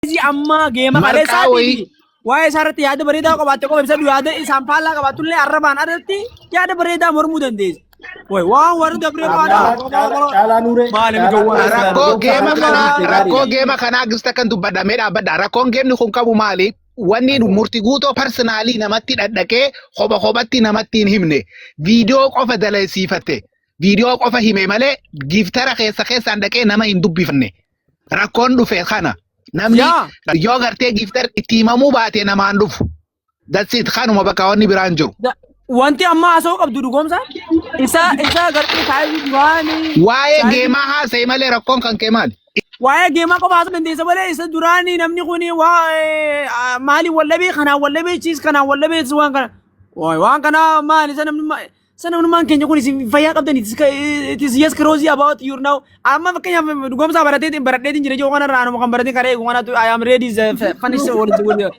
Isi amma geema Marqaa kaleessaa wayii. fi waa'ee isaa irratti yaada bareedaa qabaatte qofa ibsatu yaada isaan faallaa qabaatullee arrabaan irratti yaada bareedaa mormuu dandeessi. Way waan warri dabree faana Caalaa nuuree. maali gowwaa Rakkoo geema kanaa rakkoo geema kanaa gista kan dubbadhamee dhaabbadha. Rakkoon geemni kun qabu maali? Wanni murti guutoo parsinaalii namatti dhadhaqee kopha kophatti namatti hin himne. Viidiyoo qofa dalagsiifatte. Viidiyoo qofa hime malee giiftara keessa keessaan dhaqee nama hin dubbifanne. rakkoon dhufe kana namni Yaa. yoo gartee giiftar itti himamuu baate namaan dhufu. That's it kanuma bakka wanni biraan jiru. Da- Wanti amma haasa'uu qabdu dhugoomsa isa isa gartee taa'ee duraanii Waa'ee taa'ee- geemaa haasa'e malee rakkoon kan kee maali? waa'ee geemaa qofa haasa'uu dandeessa malee isa duraanii namni kun waa'ee ah, maaliin wallabee kanaan wallabee chiis kanaan wallabee waan kana Waay, waan kana maal isa namni ma- Sana hundumaan keenya kun isin fayyaa qabdan it is yes crazy about you now. Amma fakkeenyaaf dhugoomsaa baratee baradheetiin jira jiru kanarraa anuma kan baratee karee eegu kanatu I am ready the furniture wal wal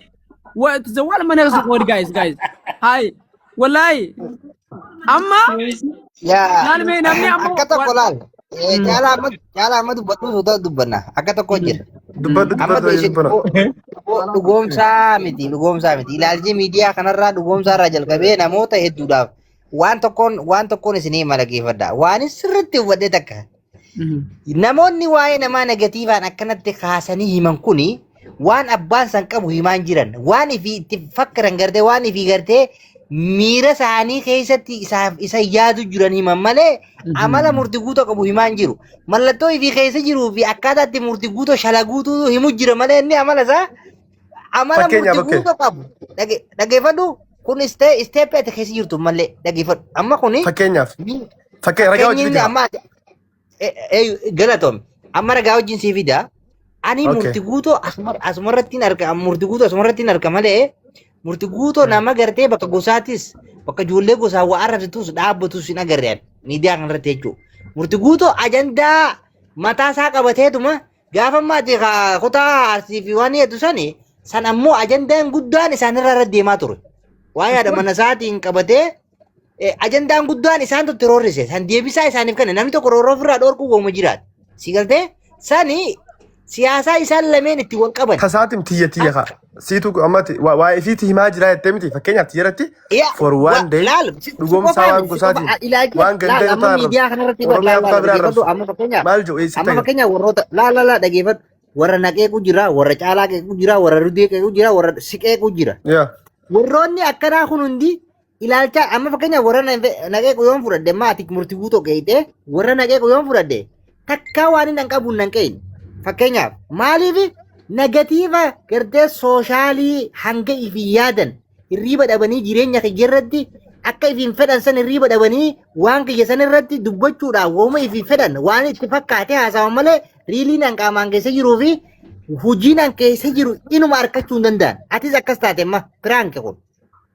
what the wall mana kasu word guys guys. Hi. Wallahi. Amma Yaa maalmee namni amma akka tokko laal. Eh, Mm. Caalaa amma caalaa amma dubbadhu suuta dubbanna akka tokko hin jirre. Dubbadhu Amma dubbadhu beeshe dubbana. dhugo- dhugoomsaa miti dhugoomsaa miti ilaalchi miidiyaa kanarraa dhugoomsaa irraa jalqabee namoota hedduudhaaf waan tokkoon waan tokkoon isinii malageeffadha waan sirriitti hubadhe takka namoonni waa'ee namaa negatiivaan akkanatti kaasanii himan kuni waan abbaan san qabu himaa hin jiran waan ifi itti fakkiran gartee waan ifi gartee miira isaanii keessatti isaaf isa yaadu jiran himan malee amala murti guutoo qabu himaa hin jiru mallattoo ifi keessa jiruu fi akkaataa itti murti guutoo shalaguutu himu jira malee inni amala isaa amala Fakkeenyaaf, murti guutoo qabu Dhage- dhageeffadhu kun istee isteeppii ati keessa jirtu malee dhageeffadhu amma kuni fakkeenyaaf mi- fakkee ragaa fakkeenyi hojii inni bitaa amma ati- Eh, eh, Galatoom. Amma ragaa wajjin sii fida. Ani Okay. murti guutoo asuma- asumarratti hin arga. Murti guutoo asumarratti hin arga malee murti guutoo nama gartee bakka gosaatis bakka ijoollee gosaa waa arrabsitus dhaabbatus hin agarre ani miidiyaa kanarratti jechuudha. Murti guutoo ajandaa mataa isaa qabateetuma gaafa maati haa kutaa arsii fi waan hedduu sani san ammoo ajandaan guddaan isaanirra irra deemaa ture. Waa yaada mana isaatiin qabatee Eh, ajandaan guddaan isaan tutti roorrise san deebisaa isaaniif kenna namni tokko roorroo ofirraa dhoorkuu gooma jiraata si galtee sani siyaasaa isaan lameen itti wal qaban Tasaatiin tiyya tiyya kaa. Siitu ammatti waa waa isiitti himaa jiraa jettee miti fakkeenyaaf tiyya irratti Yaa, for wa- one day laal, si- si dhugoomsaa qofaa waan miti, si gosaatiin qofaa. Ilaalcha- waan laal, gandaa amma irratti miidiyaa kana irratti Oromiyaa laal, kutaa laal, biraa dhaggeeffadhu, arrabsu. amma fakkeenyaaf- Maal jedhu eessa amma ta'e? fakkeenyaaf warroota laal laal laal dhaggeeffadhu. warra naqeequ jira warra caalaa qeequ jira warra rudee qeequ jira warra siqeequ jira Yaa. warroonni akkanaa kun hundi ilaalcha amma fakkeenyaaf warra na- naqee yoon fudhadhe maati murtii guutuu keeyte warra naqee yoon fudhadhe takkaa waan hin qabu nan qeeyne fakkeenyaaf maaliif negatiiva gartee sooshaalii hanga ifi yaadan hirriiba dhabanii jireenya kiyya irratti akka ifiin fedhan san hirriiba dhabanii waan kiyya san irratti dubbachuudhaaf wooma ifi fedhan waan itti fakkaate haasawan malee riiliin an qaamaan keessa jiruu fi hojiin an keessa jiru inuma argachuu hin danda'an atis akkas taate amma piraanki kun.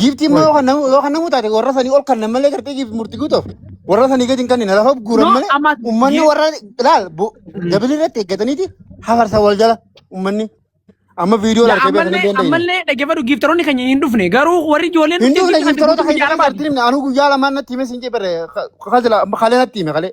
Giiftii immoo Qoy. yoo kan namu yoo kan namu taate warra sanii ol kan malee gartee giiftii murtii guutuuf warra sanii gadi hin kannine lafa guuran No, malee amma ummanni giif warra ilaal bu- Mm. dabili irratti eeggataniiti hafarsa wal jala ummanni amma viidiyoo yaa argee beekan hin ammallee dandeenye. ammallee dhaggeeffadhu giiftaroonni keenya hin dhufne garuu warri ijoolleen Hin dhufte dhufne giiftii kan giiftaroota dubbatu keenya biyya kan arbaati. bartiin anuu guyyaa lamaan natti hime siin jebere kalee natti hime kalee.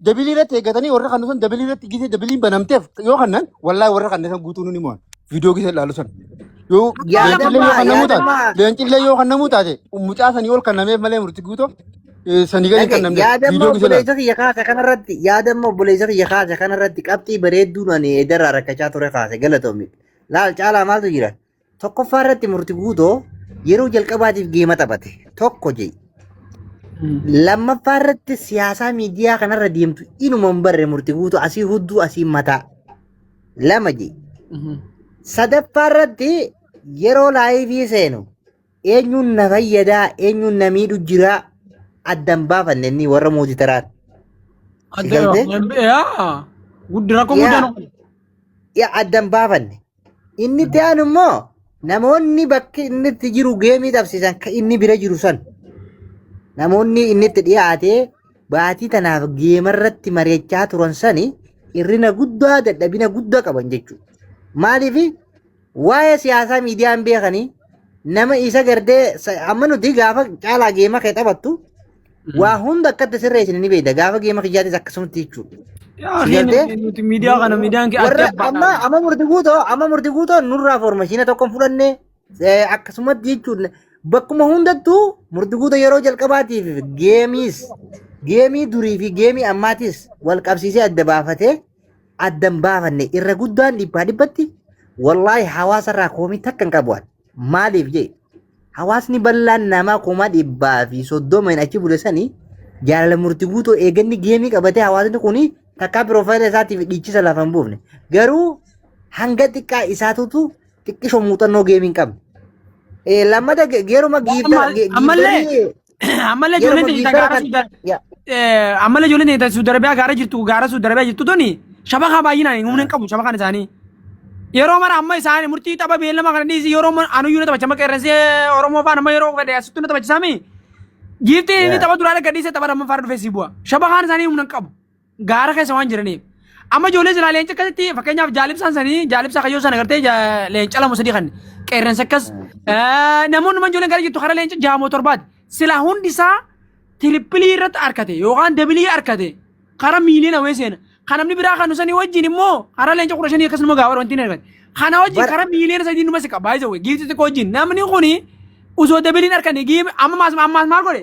dabilii irratti eeggatanii warra kan san dabilii irratti gisee dabiliin banamteef yoo kannan wallaahi warra kan san guutuu nuni mo'an viidiyoo gisee ilaalu san yoo Kubbaa leencillee yoo lammummaa kan namuu taate yaadamaa leencillee yoo kan namuu taate mucaa sanii ol kan nameef malee murti guutoo eh, sanii gadi kan dhage namneef yaadamma viidiyoo gisee ilaalu obboleessa kiyya kaase kanarratti yaadamma obboleessa kiyya kaase kanarratti qabxii bareedduun ani edarraa rakkachaa ture kaase galatoomi laal caalaa maaltu jira Tokkoffaa irratti murti guutoo yeroo jalqabaatiif geema taphate tokko jedhi. Lammaffaa irratti siyaasaa miidiyaa kanarra deemtu inuma hin barre murti guutuu asii hudduu asii mataa lama jedhi. Sadaffaa irratti yeroo laayivii seenu eenyuun na fayyadaa eenyuun na miidhu jiraa addan baafanne inni warra mootii taraan. Adda Galtee? Guddi rakkoo Yaa. guddaan yaa addan baafanne Inni itti aanu immoo namoonni bakki inni itti jiru geemii taphsiisan kan inni bira jiru san namoonni inni itti dhiyaatee baatii tanaaf geema irratti mari'achaa turan sani hirrina guddaa dadhabina guddaa qaban jechuudha. Maaliif waa'ee siyaasaa miidiyaan beekanii nama isa gardee amma nuti gaafa caalaa geema kee taphattu Waa hunda akka itti sirreessine ni beekta. Gaafa geema kiyyaatis akkasumatti jechuudha. Yaa Si gartee? hin nuti miidiyaa kana miidiyaan kee adda Warra amma baadha. amma murti guutoo amma murti guutoo nurraa foormashiina tokko hin fudhanne eh, akkasumatti jechuudha. Bakkuma hundattuu murti guutoo yeroo jalqabaatiif geemiis geemii durii fi geemii ammaatis wal qabsiisee adda baafatee adda hin baafanne irra guddaan dhibbaa dhibbatti wallaahi hawaasarraa koomii takka hin qabu. ani. Maaliif jee hawaasni bal'aan namaa kuma dhibbaa fi soddoma hin achi bule sanii jaalala murti guutuu eeganni geemii qabatee hawaasni kun takkaa piroofaayila isaatiif dhiichisa lafa hin buufne. Garuu hanga xiqqaa isaatutu xiqqisho muuxannoo geemii hin qabne. Eh, Lammata ge- geeruma giifta- Amma- ge- ammallee- giiftarii- Ammallee Yeroo ijoolleen teenya viizara gaara kan- suuda yaa. eh, ammallee ijoolleen teenya ta suuda arabiyaa gaara jirtu gaara suuda arabiyaa jirtu tuni shabakaa baay'inaan humna hin qabu shabakaan isaanii. Yeroo mara amma isaanii murtii tapha beellama kana dhiisi yeroo mara anuyyuu na taphacha amma qeerransee Oromoo faan amma yeroo fedhe asittuu na taphachisaami. Giiftiin inni Yaa. tapha duraa dhagga dhiisee tapha lammaffaa irra dhufee si bu'a. Shabakaan isaanii humna hin qabu. gaara keessa waan jiraniif. Amma ijoollee silaa leenca akkasitti fakkeenyaaf jaalibsaan sanii jaalibsaa kayyoo sana gartee ja- leenca lama sadii kan qeerransa akkas eh, namoonni man ijoolleen gara jirtu karaa leenca jaamoo torbaati. Silaa hundi isaa tirippilii irratti arkate yookaan dabilii arkate karaa miiliyoona wayii seena. Kan namni biraa kan sanii wajjin immoo karaa leenca kudha shanii akkasuma gaawar wanti hin argate. Kana wajjin Bara- karaa miiliyoona sadii numa siqa baay'ee wayii giifti xiqqoo wajjin namni kuni osoo dabiliin arkane giime amma maas maas maal godhe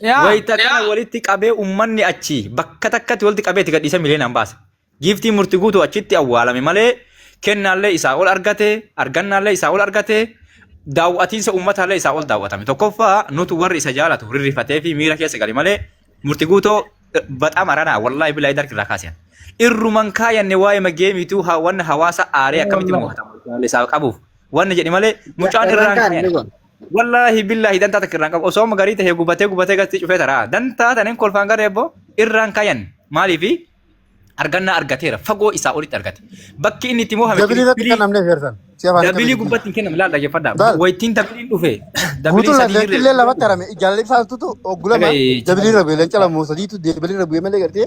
Yaa. Wayita kana walitti qabee uummanni achi bakka takkatti walitti qabee itti gadhiisee miliyoonaan baase. Giiftii murti guutuu achitti awwaalame malee kennaallee isaa ol argate, argannaallee isaa ol argate, daawwatiinsa uummataallee isaa ol daawwatame. Tokkoffaa nutu warri isa jaalatu rirrifatee fi miira keessa gale malee murti guutoo baxaa maranaa wallaahi bilaa idarki irraa kaasiyan. Irruman kaayanne waa'ee mageemiituu wanna hawaasa aaree akkamitti mo'atamu isaa qabuuf wanna jedhi malee mucaan irraan Carraan kaan inni kaayan. kun. Wallaahi billaahi dantaa takka irraan qabu. Osoo amma garii ta'e gubatee gubatee gatti cufee taraa. Dantaa taneen kolfaan garee ebboo irraan kayan. Maaliifi argannaa argateera. Fagoo isaa olitti argate. Bakki inni itti moofame. Dabilii irratti kan namni feertan. Dabilii gubbatti hin kennamu laal dhaggeeffadhaa. Laal. Waytiin dabiliin dhufe. Dabiliin Guutuu sadii lafee illee lafatti harame. Jaalala ibsaa tutu oggulama. Dhagai- Dabilii rabe leenca lamoo sadiitu dabilii rabe malee gartee.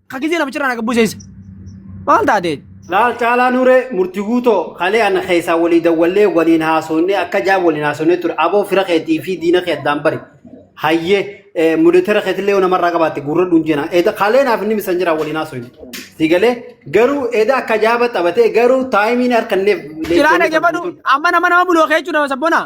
Ka gizee namicha irraa na gabbuseessa. Maal taatee? Laal caalaa nure murti guutoo kalee ana keessaa walii dawwallee waliin haasofnee akka jaab waliin haasofnee ture aboo fira keetii fi diina kee addaan bari hayyee mudetera keetillee yoo namarraa qabaatte gurra dhunjena eeda kalee naaf inni misan jira waliin haasofne si galee garuu eeda akka jaaba taphatee garuu taayimiin harkanneef Ciraa dhaggeeffadhu amma nama nama buloo keechuu nama sabbonaa.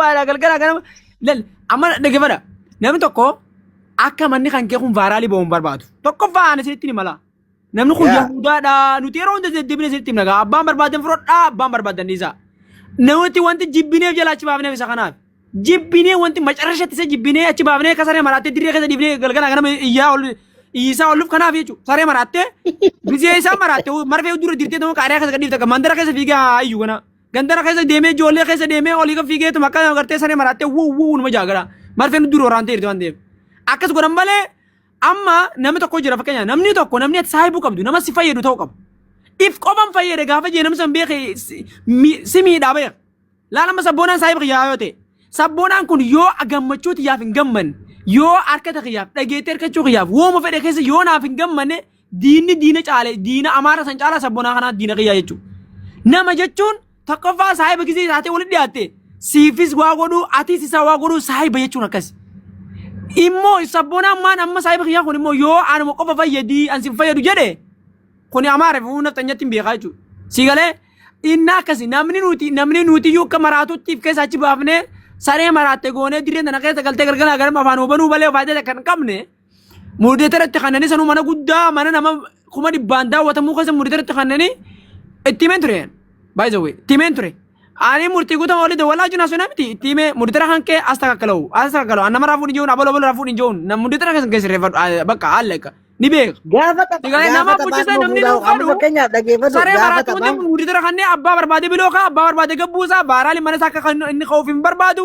Baala galgala ganama lal amma dhagefadha namni tokko akka manni kan kee kun vaaraalii ba'uun barbaadu tokkoffaa ana isinitti ni mala namni kun Yaa. yahudaadha nuti yeroo hunda deddeebine isinitti himna gaa abbaan barbaadan fudhadhaa abbaan barbaadan dhiisaa namatti wanti jibbineef jala achi baafneef isa kanaaf jibbinee wanti macarashatti isa jibbinee achi baafnee akka saree maraattee dirree keessa dhiifnee galgala ganama iyyaa ol iyyisaa olluuf kanaaf jechuudha saree maraattee bisee isaa maraattee marfee dura dirtee ta'uu qaariyaa keessa gadhiifte akka mandara keessa fiigaa ayyu kana Gandara keessa deemee ijoollee keessa deemee olii kan fiigeetuma akka agartee saree maraattee wuu wuu numa jaagara. Marfeen dura waraantee jirti waan ta'eef. Akkas godhan malee amma namni tokko jira fakkeenya namni tokko namni ati saahibuu qabdu nama si fayyadu ta'uu qaba. If qofan fayyade gaafa jee namni san beeke si- mi- si miidhaa beeka. Laala amma sabboonaan saahiba kiyyaa yoo ta'e sabboonaan kun yoo gammachuu tiyyaaf hin gammanne yoo harkata kiyyaaf dhageettee harkachuu kiyyaaf wooma fedhe keessa yoo naaf hin gammanne Diinni diina caale diina amaara san caalaa sabbonaa kanaa diina kiyyaa jechuudha. Nama jechuun tokkoffaa saahiba gisee taatee walitti dhiyaatte siifis waa godhuu atis isaa waa godhuu saahiba jechuun akkasi. Immoo sabbonaan maan amma saahiba kiyyaa kun immoo yoo anuma qofa fayyadii an sin fayyadu jedhe kuni amaara fi humna xanyatti hin beekaa jechuudha. Si galee inni akkasi namni nuti namni nuti iyyuu akka maraatuttiif keessa achi baafnee saree maraatte goonee dirree tana keessa galtee galgala ganama afaan hubanuu malee faayidaa kan qabne. Muudeetarratti kanneen sanuu mana guddaa mana nama kuma dhibbaan daawwatamuu keessa muudeetarratti kanneen itti himeen ture. By the way, itti himeen ture. Ani murtii guutuu olii dawwalaa jiru naasuu namitti itti himee muudeetara kan kee as takakkalau as takakkalau nama raafuu ni jiruun abaloo abaloo raafuu ni jiruun nama muudeetara kan keessa reeffadhu bakka haala egaa ni beeka. Gaafa tapha Egaa gaafa nama taphaan bulchisaa namni dhufuudhaaf amma dhuunfaadhu fakkeenyaaf dhaggeeffatu saree gaafa maraattuu taphaan hundi muudeetara kanneen abbaa barbaade biloo kaa abbaa barbaade gabbuusaa baaraali mana isaa akka kan inni ka'uuf hin barbaadu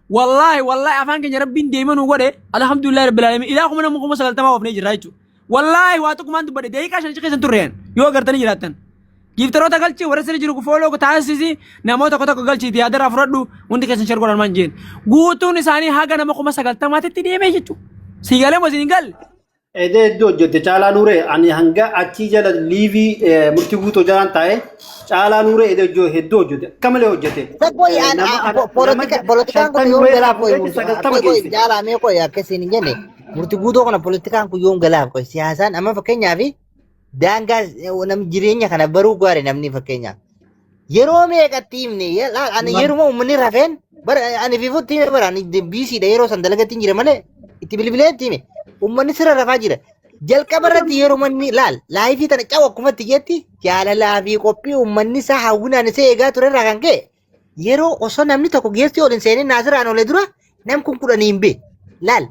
Wallaahi wallaahi afaan keenya rabbiin deema nu godhe alhamdulillah rabbil alamin ilaa kuma nama kuma sagaltamaa oofnee jirra jechuudha. Wallaahi waa tokkumaan dubbadhe daqiiqaa shan keessan turreen yoo agartanii jiraattan. Giiftaroota galchi warra sirri jiru fooloo taasisi namoota tokko tokko galchiiti yaadara fudhadhu hundi keessan shar godhan maan jeen. Guutuun isaanii haga nama kuma sagaltamaatitti deemee jechuudha. Siigalee moo siin galle? Edee hedduu hojjette caalaa nuuree ani hanga achii jala liivii eh, murtii guutuu jalaan taa'e caalaa nuuree edee hojjo- hedduu hojjette akka malee hojjette Isa koi Eh, an nama a- po- nama polotika- ja- politikaan kun shantamii yoom weeraa galaaf koi fuudhee murti sagaltama koi koi geesse jaalaa mee koi akka isin hin jenne murti guutuu kana politikaan kun yoom galaaf koi siyaasaan amma fakkeenyaaf daangaa eh, nam jireenya kana baruu gaari namni fakkeenyaaf Yeroo meeqatti himne ye- laal ani Maal? yeruma uummanni rafeen bara ani fifutti hime bara ani biisiidha yeroo san dalagatti hin jire malee itti bilbilee itti hime uummanni sirra rafaa jira. Jalqaba irratti yeruma inni laal laayifii tana cawu akkuma itti jetti jaalalaa fi qophii uummanni isaa hawwinaan isa eegaa ture irraa kan ka'e yeroo osoo namni tokko geessi ol hin seenin naasiraan olee dura nam kun kudhanii hin bee laal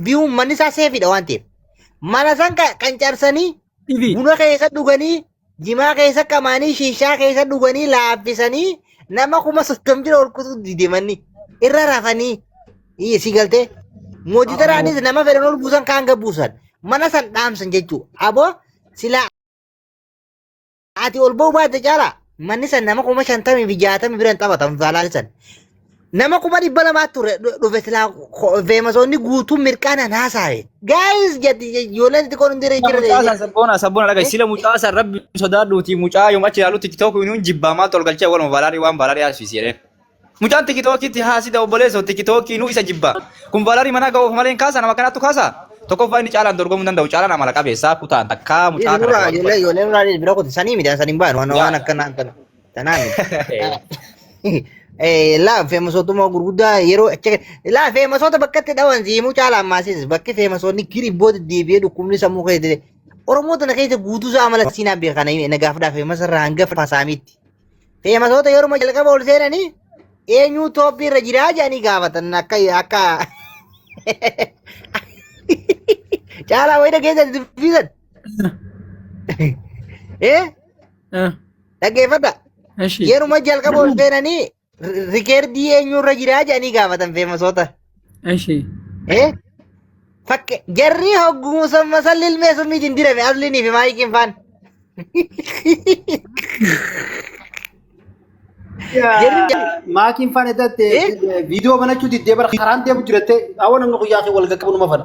biyyi uummanni isaa seefiidha waan ta'eef mana san ka- qancarsanii TV. buna keessa dhuganii jimaa keessa qamaanii shiishaa keessa dhuganii laaffisanii nama kuma soddomi bira ol kutuu dide manni irra rafanii iyya si galtee mooditaraanis nama fedhan ol buusan kaan gabbuusan mana san dhaamsan jechuu aboo silaa ati ol ba'uu baatte caalaa manni san nama kuma shantamii fi jaatamii biran taphatan faalaalisan Nama kuma dhibba lamaa ture dhu- dhufe silaa ko- feemasoonni guutuun mirqaanaan haasaawe. Gaayis jedhi ijoolleen xixiqqoon hundi irra Sila jira. mucaa san sabboona sabboona dhagahi sila mucaa san rabbi sodaadhuuti mucaa yoom achi ilaalutti tiktook nuun jibbaa maaltu ol galchee waluma valaarii waan valaarii haasfisi jedheen. Mucaan tikitookitti haasida obboleessoo tikitookii nu isa jibbaa. Kun valaarii manaa ga'uuf malee hin kaasa nama kanaattu kaasa. Tokkoffaa inni caalaan dorgomuu hin danda'u caalaan amala qabeessaa kutaan takkaa mucaa kana Ijoollee duwwaa ijoollee ijoollee nurraa bira kutu sanii midhaan sanii hin baanu waan waan akkanaa akkana. Tanaa miti. Laa feemasootummaa gurguddaa yeroo achi laa feemasoota bakka itti dhawan siimuu caalaa ammaasiis bakki feemasoonni kiribboo deddeebi'ee dhukkubni sammuu keessa dedee. Oromoo tana keessa guutuu isaa amala siinaa beekan nagaafdhaa feemasa irraa hanga fasaamiitti. Feemasoota yeruma jalqaba ol seenanii eenyuu tooppi irra jiraa jedhanii gaafatan akka akka caalaa wayida keessatti dubbisan. Eh? Ah. Dhaggeeffadha. Eshi. Yeruma jalqaba ol seenanii ri- rikeerdii eenyurra jiraa jedhanii gaafatan feemasoota. Eshi. Eh? Fakke jarri hogguu samma salli ilmee summiitiin dirame asliinii fi maayikiin faan. Maakiin faan edatte Eh? viidiyoo banachuu diddee bara karaan deemu jiratte awwa namni guyyaa kee wal gaqqabu nama fana.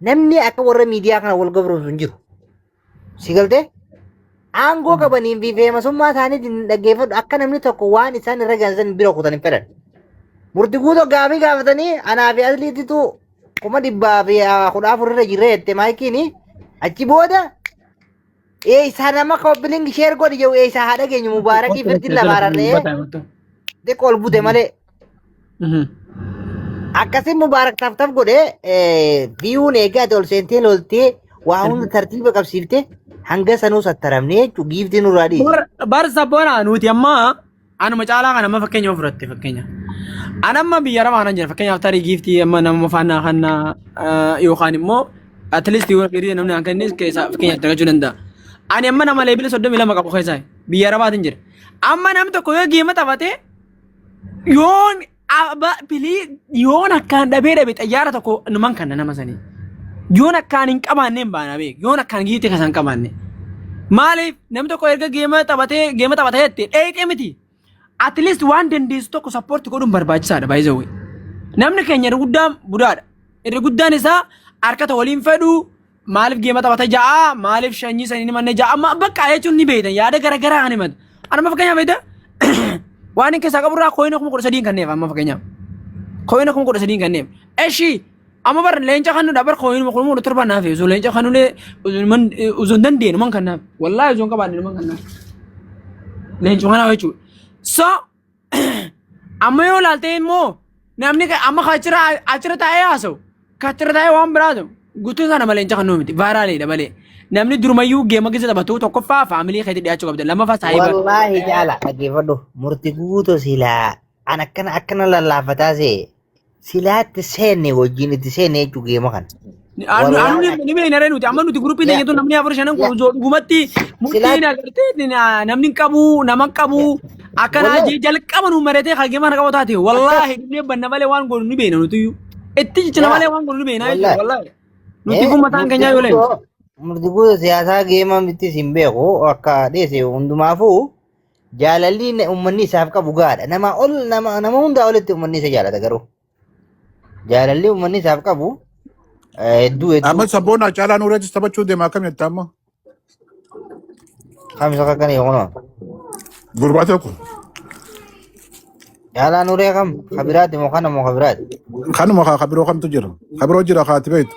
Namni akka warra miidiyaa kana wal gabroomsu hin jiru. Si galtee? Aangoo qabaniin fi feemasummaa isaaniitiin hin dhaggeeffadhu akka namni tokko waan isaan irra gaansan bira kutan hin fedhan. Murti guutoo gaafii gaafatanii anaa fi asliititu kuma dhibbaa fi ah, kudha afur irra jirra jette maayikiini achi booda Ee isaa nama kooppilingi sheer godhi jedhu ee isaa haa dhageenyu mubaarakii firdiin lafa ararree xiqqoo ol bute malee akkasii mubaarak taf taf godhee biyuun eegaa ati ol seentee loltee waa hunda tartiiba qabsiifte hanga sanuu sattaramnee jechuun giiftii nurraa dhiise. Bar sabboonaa nuti ammaa Anuma caalaa kan amma fakkeenya yoo fudhatte fakkeenya. An amma biyya arabaa kanan jira fakkeenyaaf tarii giiftii amma nama faanaa kanna yookaan immoo at least yoo firii namni kan kennis keessaa fakkeenyaaf dagachuu danda'a. Ani amma nama leebila soddomii lama qabu keessaa biyya arabaatiin jira. Amma namni tokko yoo geema taphatee yoon Aba pilii yoon akkaan dhabee dhabe xayyaara tokko numan kanna nama sanii. Yoon akkaan hin qabaanne hin baana beek. Yoon akkaan giite kasa hin qabaanne. Maaliif namni tokko erga geema taphatee geema taphatee jettee dheeyxee miti. At least waan dandeessu tokko sappoorti godhuun barbaachisaadha baay'ee Namni keenya irra guddaan budaadha. Irra guddaan isaa harkata waliin fedhuu Maaliif geema taphata ja'a maaliif shanyii sanii ni manne ja'a amma bakka jechuun ni beeytan yaada garaagaraa kan himatu. Anuma fakkeenyaaf beektaa waan hin keessaa qaburraa kooyina kuma kudha sadiin kanneef amma fakkeenyaaf. Kooyina kuma kudha sadiin kanneef. Eshi amma bar leenca kannudha bar kooyina kuma kudha torba naaf osoo leenca kannulee osoo hin dandeenye man kannaaf wallaahi osoo hin qabaanne man kannaaf. Leencuma kanaa jechuudha. So Amma yoo ilaaltee immoo namni ka- amma ka achirra achirra taa'ee haasa'u ka achirra taa'ee waan biraa ta'u guutuun isaa nama leenca kan nuu miti vaayiraaliidha malee namni durumayyuu geema keessa taphatu tokkoffaa faamilii keetti dhiyaachuu qabda lammaffaa saayiba Wallaahi jaala dhaggeeffadhu murti guutu silaa an akkana akkana lallaafataa see Silaa itti seenne wajjin itti seenne jechuu geema kana. Anu Warra- anu ni me inare nuti amma nuti grupi Ya. tanya tu namni afur shanan Ya. kun zo dhugumatti murtiin Silaa- agartee ni- na- namni hin qabu nama hin qabu akkanaa Wallahi. jee jalqaba nu maratee hagee mana qabu taate wallaahi dhibnee banna malee waan goonu ni beena nuti iyyuu itti jechina Ya. malee waan goonu ni beena jechuudha Wallahi. wallaahi nuti Eh, kun mataan murti keenyaa yoo leenyu guutuu- Murti guutuu siyaasaa geema miti sin beeku akka dheese hundumaafuu Jaalalli inni- ummanni isaaf qabu gaadha. Nama ol nama nama hundaa olitti ummanni isa jaalata garuu. Jaalalli ummanni isaaf qabu eh, hedduu hedduu Amma sabboon Haacaalaa Nuureetis taphachuu deema akkam jettaa amma? kamisa akka kana kunoo. Gurbaa tokko. Jaalaa nuree kam kabiraati moo kana moo kabiraati. Kanuma kaa kabiroo kamtu jira. Kabiroo jira kaati beektu.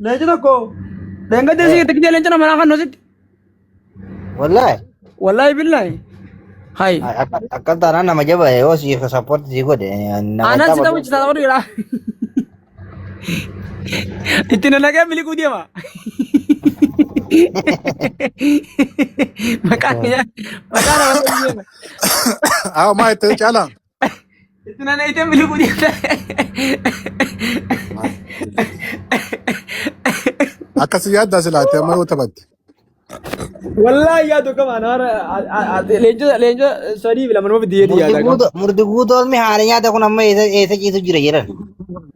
Leenci tokko dheengadda Eh, isii tikitee leenca namaa kan nositti. wallahi. Wallaahi billaahi. Hayi. Ay, Akka akka taanaan nama jaba yoo si support si godhe nama Aanaan si tapha taphachiisa tapha dhiiraa. Itti na nagee miliquu deema. Maqaan maqaan nama deema. Awo maa itti caalaa. Itti nana itti miliquu dhiisa. Akkasi yaaddaa silaate amma yoo taphatte. Wallaahi yaadu qaba anaara leenjota leenjota sadii fi lama nama fidiyee yaada qaba. Murdi guutoon mihaanii nyaata kun amma eessa ciisu jira jedhan.